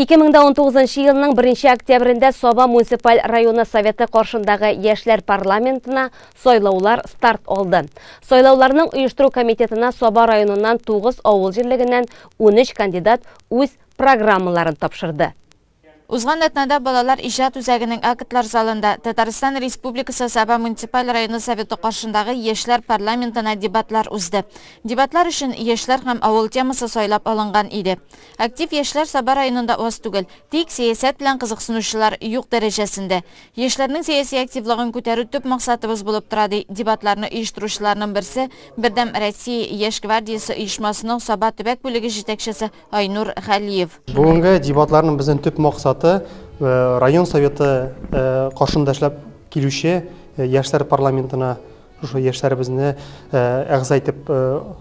2019 нчы елның 1 октябрендә Саба муниципаль районы советы каршындагы яшьләр парламентына сайлаулар старт алды. Сайлауларның оештыру комитетына Саба районыннан 9 авыл җирлегеннән 13 кандидат үз программаларын тапшырды. Узган атнада балалар иҗат үзәгенең актлар залында Татарстан Республикасы Саба муниципаль районы советы каршындагы яшьләр парламентына дебатлар узды. Дебатлар өчен яшьләр һәм авыл темасы сайлап алынган иде. Актив яшьләр Саба районында аз түгел. Тик сәясәт белән кызыксынучылар юк дәрәҗәсендә. Яшьләрнең сәяси активлыгын күтәрү төп максатыбыз булып тора, ди дебатларны оештыручыларның берсе, Бердәм Россия яшь гвардиясе оешмасының Саба төбәк бүлеге җитәкчесе Айнур Галиев. Бүгенге дебатларның безнең төп максаты, район Советы каршында эшләп килүче яшьләр парламентына Шушы яшьләребезне әгъза итеп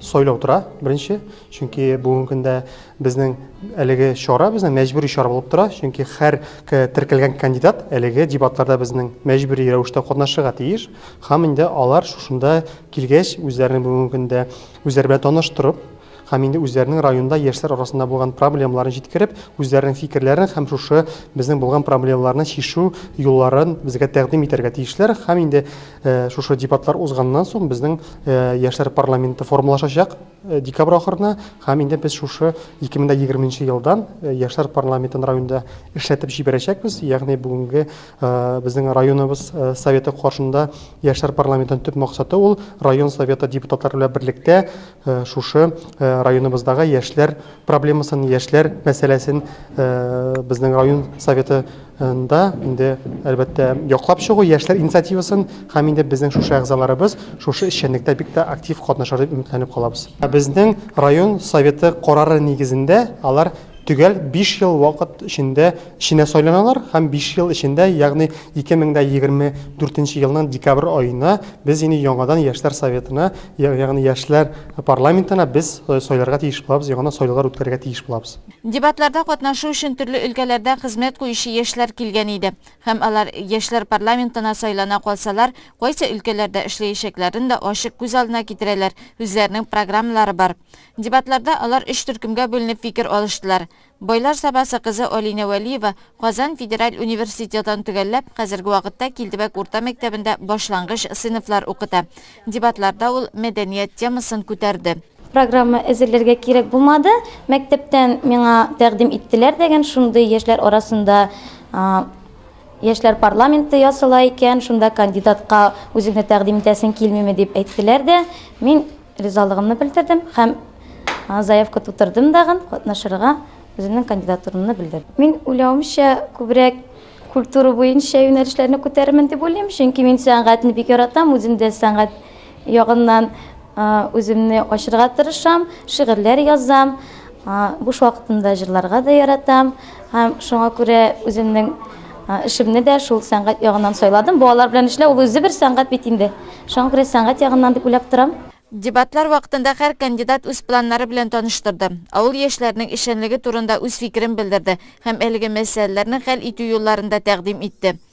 сайлау тора, беренче. Чөнки бүгенге көндә безнең әлеге чара безнең мәҗбүри чара булып тора, чөнки һәр теркәлгән кандидат әлеге дебатларда безнең мәҗбүри рәвештә катнашырга тиеш. Һәм инде алар шушында килгәч, үзләрен бүгенге көндә үзләре белән таныштырып, һәм инде үзләренең районда яшьләр арасында булган проблемаларын җиткереп, үзләренең фикерләрен һәм шушы безнең булган проблемаларны чишү юлларын безгә тәкъдим итәргә тиешләр. Һәм инде Шушы дебатлар узганнан соң безнең яшьләр парламенты формалашачак декабрь ахырына һәм инде без шушы 2020 елдан яшьләр парламентын районда эшләтеп җибәрәчәкбез. Ягъни бүгенге безнең районыбыз советы каршында яшьләр парламентын төп максаты ул район советы депутатлары белән берлектә Шушы районыбыздагы яшьләр проблемасын, яшьләр мәсьәләсен безнең район советы нда инде әлбәттә яклап чыгу яшьләр инициативасын һәм инде безнең шушы әгъзаларыбыз шушы эшчәнлектә бик тә актив катнашыр дип өметләнеп калабыз. Безнең район советы карары нигезендә алар төгәл биш ел вакыт эчендә Эшенә сайланалар һәм биш ел эчендә, ягъни 2024 елның декабрь аена без инде яңадан Яшьләр советына, ягъни Яшьләр парламентына без сайларга тиеш булабыз, яңадан сайлаулар үткәрергә тиеш булабыз. Дебатларда катнашу өчен төрле өлкәләрдә хезмәт куючы яшьләр килгән иде һәм алар, Яшьләр парламентына сайлана калсалар, кайсы өлкәләрдә эшләячәкләрен дә ачык күз алдына китерәләр, үзләренең программалары бар. Дебатларда алар өч төркемгә бүленеп фикер алыштылар. Байлар Сабасы кызы Алинә Вәлиева Казан федераль университетын төгәлләп, хәзерге вакытта Килдебәк урта мәктәбендә башлангыч сыйныфлар укыта. Дебатларда ул мәдәният темасын күтәрде. Программа әзерләргә кирәк булмады. Мәктәптән миңа тәкъдим иттеләр дигән шундый яшьләр арасында Яшьләр парламенты ясала икән, шунда кандидатка үзеңне тәкъдим итәсең килмиме дип әйттеләр дә, мин Ризалыгымны белдердем һәм заявка тутырдым дагын катнашырга үземнең кандидатурамны белдердем. Мин уйлавымча, күбрәк культура буенча юнәлешләрне күтәрермен дип уйлыйм, чөнки мин сәнгатьне бик яратам, үзем дә сәнгать ягыннан үземне ачырга тырышам, шигырьләр язам. Буш вакытымда җырларга да яратам һәм шуңа күрә үземнең эшемне дә шул сәнгать ягыннан сайладым. Балалар белән эшләү ул үзе бер сәнгать бит инде. Шуңа күрә сәнгать ягыннан дип уйлап торам. Дебатлар вакытында һәр кандидат үз планнары белән таныштырды, авыл яшьләренең эшчәнлеге турында үз фикерен белдерде һәм әлеге мәсьәләләрне хәл итү юлларын да тәкъдим итте.